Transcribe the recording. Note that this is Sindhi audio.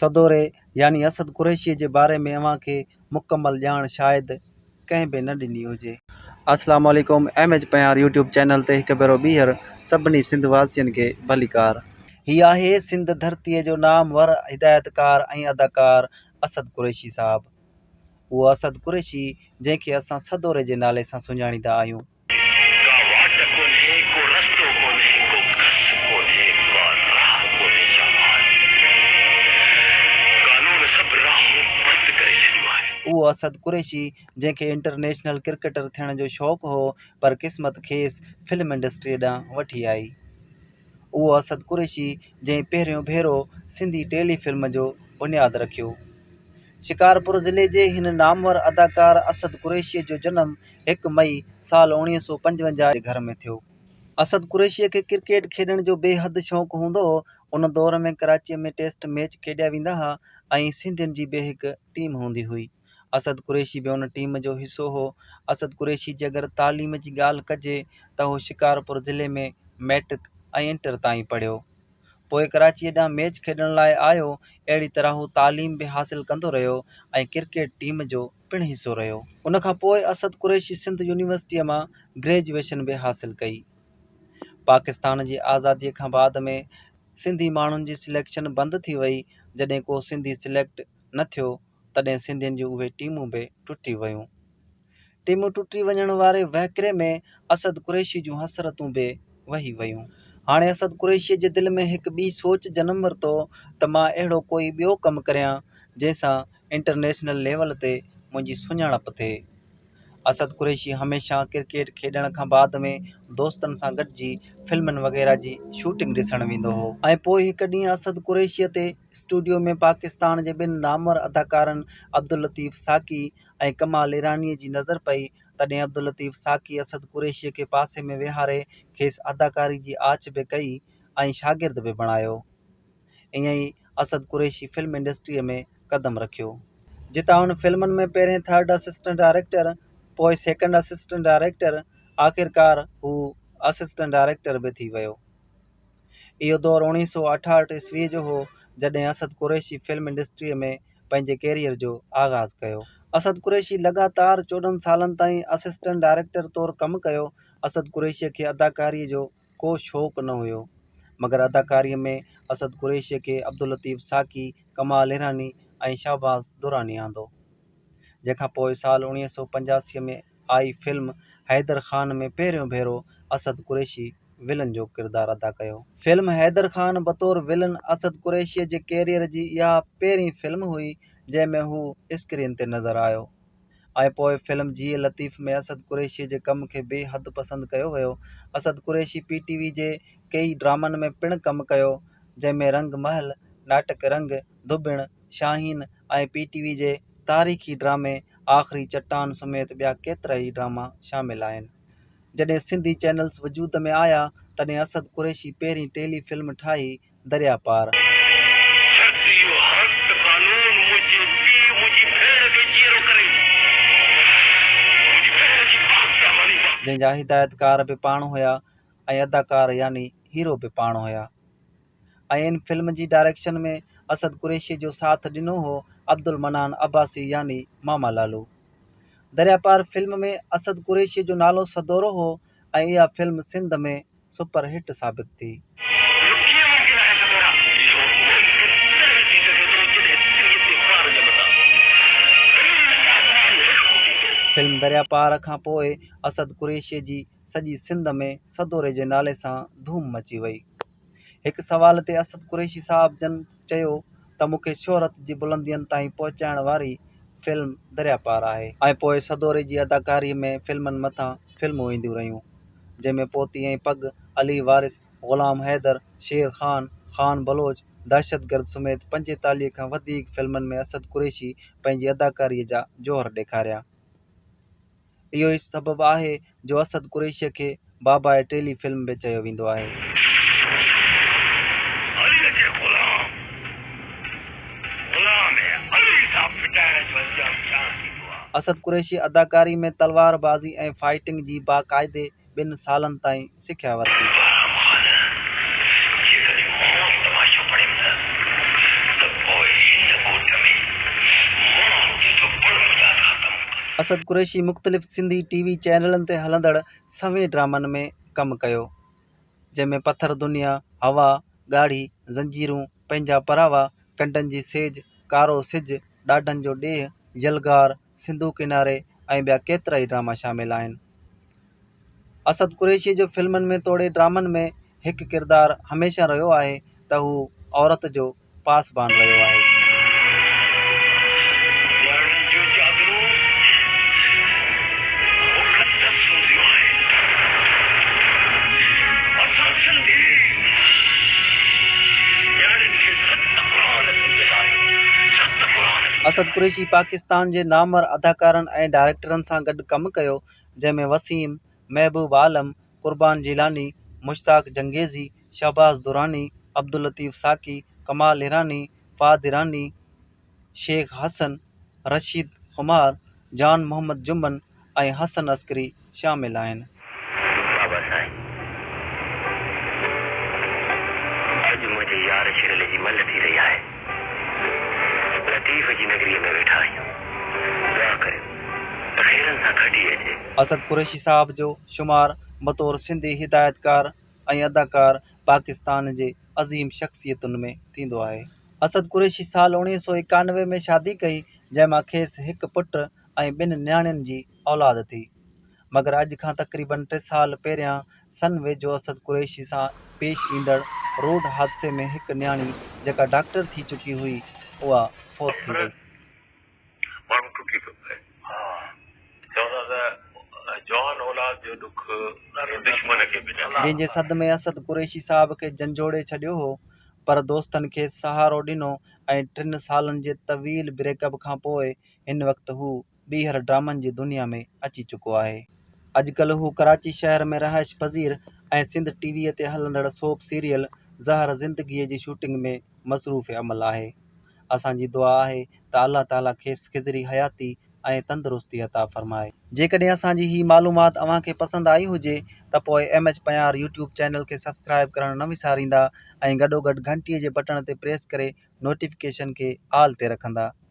سدوري يعني اسد قريشيء جي باري ۾ اوهان کي مڪمل ڄاڻ شايد ڪنهن به نه ڏني هجي. اسلام عليڪم M H Panhwar YouTube channel تي هڪ ڀيرو ٻيهر سڀني سنڌ واسين کي ڀليڪار. هي آهي سنڌ ڌرتي جو نامور هدايتڪار ۽ اداڪار اسد قريشي صاحب. اهو اسد قريشي جنهن کي اسان سدوري جي نالي سان سڃاڻيندا آهيون. ڪا واٽ ڪونهي، ڪو رستو ڪونهي، ڪو ڪس ڪونهي، ڪا راهه ڪونهي جا آهي. قانون سڀ راهون بند ڪري ڇڏيون آهن. اهو اسد قريشي جنهن کي انٽرنيشنل ڪرڪيٽر ٿيڻ جو شوق هو پر قسمت کيس فلم انڊسٽريء ڏانهن وٺي آئي. اهو اسد قريشي جنهن پهريون ڀيرو سنڌي ٽيلي فلم جو بنياد رکيو. شڪارپور ضلعي جي هن نامور اداڪار اسد قريشيء جو جنم هڪ مئي، سال اوڻيهه سؤ پنجونجاهه جي گهر ۾ ٿيو. اسد قريشيء کي ڪرڪيٽ کيڏڻ جو بي حد شوق هوندو هو. ان دور ۾ ڪراچيء ۾ ٽيسٽ ميچ کيڏيا ويندا ها ۽ سنڌين جي به هڪ ٽيم هوندي هئي. اسد قريشي به ان ٽيم جو حصو هو. اسد قريشي جي اگر تعليم جي ڳالهه ڪجي ته هو شڪارپور ضلعي ۾ مئٽرڪ ۽ انٽر تائين پڙهيو. پوء ڪراچيء ڏانهن ميچ کيڏڻ لاء آيو، اهڙي طرح هو تعليم به حاصل ڪندو رهيو ۽ ڪرڪيٽ ٽيم جو پڻ حصو رهيو. ان کان پوء اسد قريشي سنڌ يونيورسٽيء مان گريجوئيشن به حاصل ڪئي. پاڪستان جي آزاديء کان بعد ۾ سنڌي ماڻهن جي سليڪشن بند ٿي وئي، جڏهن ڪو سنڌي سليڪٽ نه ٿيو، تڏهن سنڌين جون اهي ٽيمون به ٽٽي ويون. ٽيمون ٽٽي وڃڻ واري وهڪري ۾ اسد قريشي جون حسرتون به وهي ويون. هاڻي اسد قريشيء جي دل ۾ هڪ ٻي سوچ جنم ورتو ته مان اهڙو ڪوئي ٻيو ڪم ڪريان جنهن سان انٽرنيشنل ليول تي منهنجي سڃاڻپ ٿئي. اسد قريشي هميشه ڪرڪيٽ کيڏڻ کان بعد ۾ دوستن سان گڏجي فلمن وغيره جي شوٽنگ ڏسڻ ويندو هو. ۽ پوء هڪ ڏينهن اسد قريشيء تي اسٽوڊيو ۾ پاڪستان جي ٻن نامور اداڪارن عبداللطيف ساقي ۽ ڪمال ايرانيء جي نظر پئي، تڏهن عبداللطيف ساقي اسد قريشيء کي پاسي ۾ ويهاري کيس اداڪاري جي آڇ به ڪئي ۽ شاگرد به بڻايو. ائين ئي اسد قريشي فلم انڊسٽريء ۾ قدم رکيو. جتان هن فلمن ۾ پهرين ٿرڊ اسسٽنٽ ڊائريڪٽر، پوء سيڪنڊ اسسٽنٽ ڊائريڪٽر، آخرڪار هو اسسٽنٽ ڊائريڪٽر به ٿي ويو. اهو دور اوڻيهه سؤ اٺاهٺ عيسويء جو هو، جڏهن اسد قريشي فلم انڊسٽريء ۾ پنهنجي ڪيريئر جو آغاز ڪيو. اسد قريشي لڳاتار چوڏهن سالن تائين اسسٽنٽ ڊائريڪٽر طور ڪم ڪيو. اسد قريشيء کي اداڪاريء جو ڪو شوق نه هيو، مگر اداڪاريء ۾ اسد قريشيء کي عبداللطيف ساقي، ڪمال ايراني ۽ شهباز دراني آندو، جنهن کان پوء سال اوڻيهه سؤ پنجاسي ۾ آئي فلم حيدر خان ۾ پهريون ڀيرو اسد قريشي ولن جو ڪردار ادا ڪيو. فلم حيدر خان بطور ولن اسد قريشيء جي ڪيريئر جي اها پهرين فلم هئي جنهن ۾ هو اسڪرين تي نظر آيو ۽ پوء فلم جيء لطيف ۾ اسد قريشيء جي ڪم کي بي حد پسند ڪيو ويو. Asad Qureshi P T V جي ڪيئي ڊرامن ۾ پڻ ڪم ڪيو جنهن ۾ رنگ محل، ناٽڪ رنگ، ڌوٻڻ، شاهين ۽ پي ٽي وي جي تاريخي ڊرامي آخري چٽان سميت ٻيا ڪيترائي ڊراما شامل آهن. جڏهن سنڌي چينلز وجود ۾ آيا تڏهن اسد قريشي پهرين ٽيلي فلم ٺاهي دريا پار. جنهن جا هدايتڪار به پاڻ هيا ۽ اداڪار يعني هيرو به پاڻ هيا. ۽ ان فلم جي ڊائريڪشن ۾ اسد قريشي جو ساٿ ڏنو هو عبدالمنان عباسي يعني ماما لالو. دريا پار فلم ۾ اسد قريشي جو نالو سدورو هو ۽ اها فلم سنڌ ۾ سپر هٽ ثابت ٿي. فلم دريا پار کان پوء اسد قريشي جي سڄي سنڌ ۾ سدوري جي نالي سان ڌوم مچي وئي. هڪ سوال تي اسد قريشي صاحب جن چيو ته مون کي شهرت جي بلندين تائين پهچائڻ واري فلم دريا پار آهي. ۽ پوء سدوري جي اداڪاري ۾ فلمن مٿان فلمون اينديون رهيون، جنهن ۾ پوتي ۽ پڳ، علي وارث، غلام حيدر، شير خان، خان بلوچ، دهشتگرد سميت پنجيتاليهه کان وڌيڪ فلمن ۾ اسد قريشي پنهنجي اداڪاري جا جوهر ڏيکاريا. اهو ئي سبب آهي جو اسد قريشيء کي بابائي ٽيلي فلم به چيو ويندو آهي. عليء جي غلام غلام علي سان ڦٽائڻ جو انجام ڇا ٿيندو آهي؟ اسد قريشي اداڪاري ۾ تلوار بازي ۽ فائيٽنگ جي باقاعدي ٻن سالن تائين سکيا ورتي. اسد قريشي مختلف سنڌي ٽي وي چينلن تي هلندڙ سوين ڊرامن ۾ ڪم ڪيو، جنهن ۾ پٿر دنيا، هوا، ڳاڙهي، زنجيرون، پنهنجا پراوا، ڪنڊن جي سيج، ڪارو سج، ڏاڍن جو ڏيهه، يلغار، سنڌو ڪناري ۽ ٻيا ڪيترائي ڊراما شامل آهن. اسد قريشيء جو فلمن ۾ توڙي ڊرامن ۾ هڪ ڪردار هميشه رهيو آهي ته هو عورت جو پاسبان رهيو آهي. اسد قريشي پاڪستان پاڪستان جي نامور اداڪارن ۽ ڊائريڪٽرن سان گڏ ڪم ڪيو، جنهن ۾ وسيم، محبوب عالم، قربان جيلاني، مشتاق چنگيزي، شهباز دراني، عبداللطيف ساقي، ڪمال ايراني، فهد ايراني، شيخ حسن، رشيد خمار، جان محمد جمن، ۽ حسن عسڪري شامل آهن. بابا سائين اڄ منهنجي يار شرلي جي مل ٿي رهي آهي. لطيف جي نگريء ۾ ويٺا آهيون. دعا ڪريو ته خيرن سان کٽي اچي. اسد قريشي صاحب جو شمار بطور سنڌي هدايتڪار ۽ اداڪار پاڪستان جي عظيم شخصيتن ۾ ٿيندو آهي. اسد قريشي سال اڻويهه سؤ ايڪانوي ۾ شادي ڪئي جنهن مان کيس هڪ پٽ، ۽ ٻن نياڻين جي اولاد ٿي. مگر اڄ کان تقريبن ٽي سال پهريان سن ويجهو اسد قريشي سان پيش ايندڙ روڊ حادثي ۾ هڪ نياڻي جيڪا ڊاڪٽر ٿي چڪي هئي اها فوت ٿي وئي. ماڻهو ٽٽي پيو پئي. چون ٿا ته جوان اولاد جو ڏک دشمن کي به نه. جنهن جي صدمي اسد قريشي صاحب کي جنجهوڙي ڇڏيو هو پر دوستن کيس سهارو ڏنو ۽ ٽن سالن جي طويل بريڪ اپ کانپوء هن وقت هو ٻيهر ڊرامن جي دنيا ۾ اچي چڪو آهي. اڄڪلهه هو ڪراچي شهر ۾ رهائش پذير ۽ سنڌ ٽي ويء تي هلندڙ سوپ سيريل زهر زندگيء جي شوٽنگ ۾ مصروف عمل آهي. اسان جي دعا آهي ته الله تعاليٰ کيس کضري حياتي ۽ تندرستي عطا فرمائي. جيڪڏهن اسان جي هي معلومات اوهان کي پسند آئي هجي ته پوء M H Panhwar YouTube channel کي سبسڪرائيب ڪرڻ نه وساريندا ۽ گڏوگڏ گهنٽيء جي بٽڻ تي پريس ڪري نوٽيفڪيشن کي آل تي رکندا.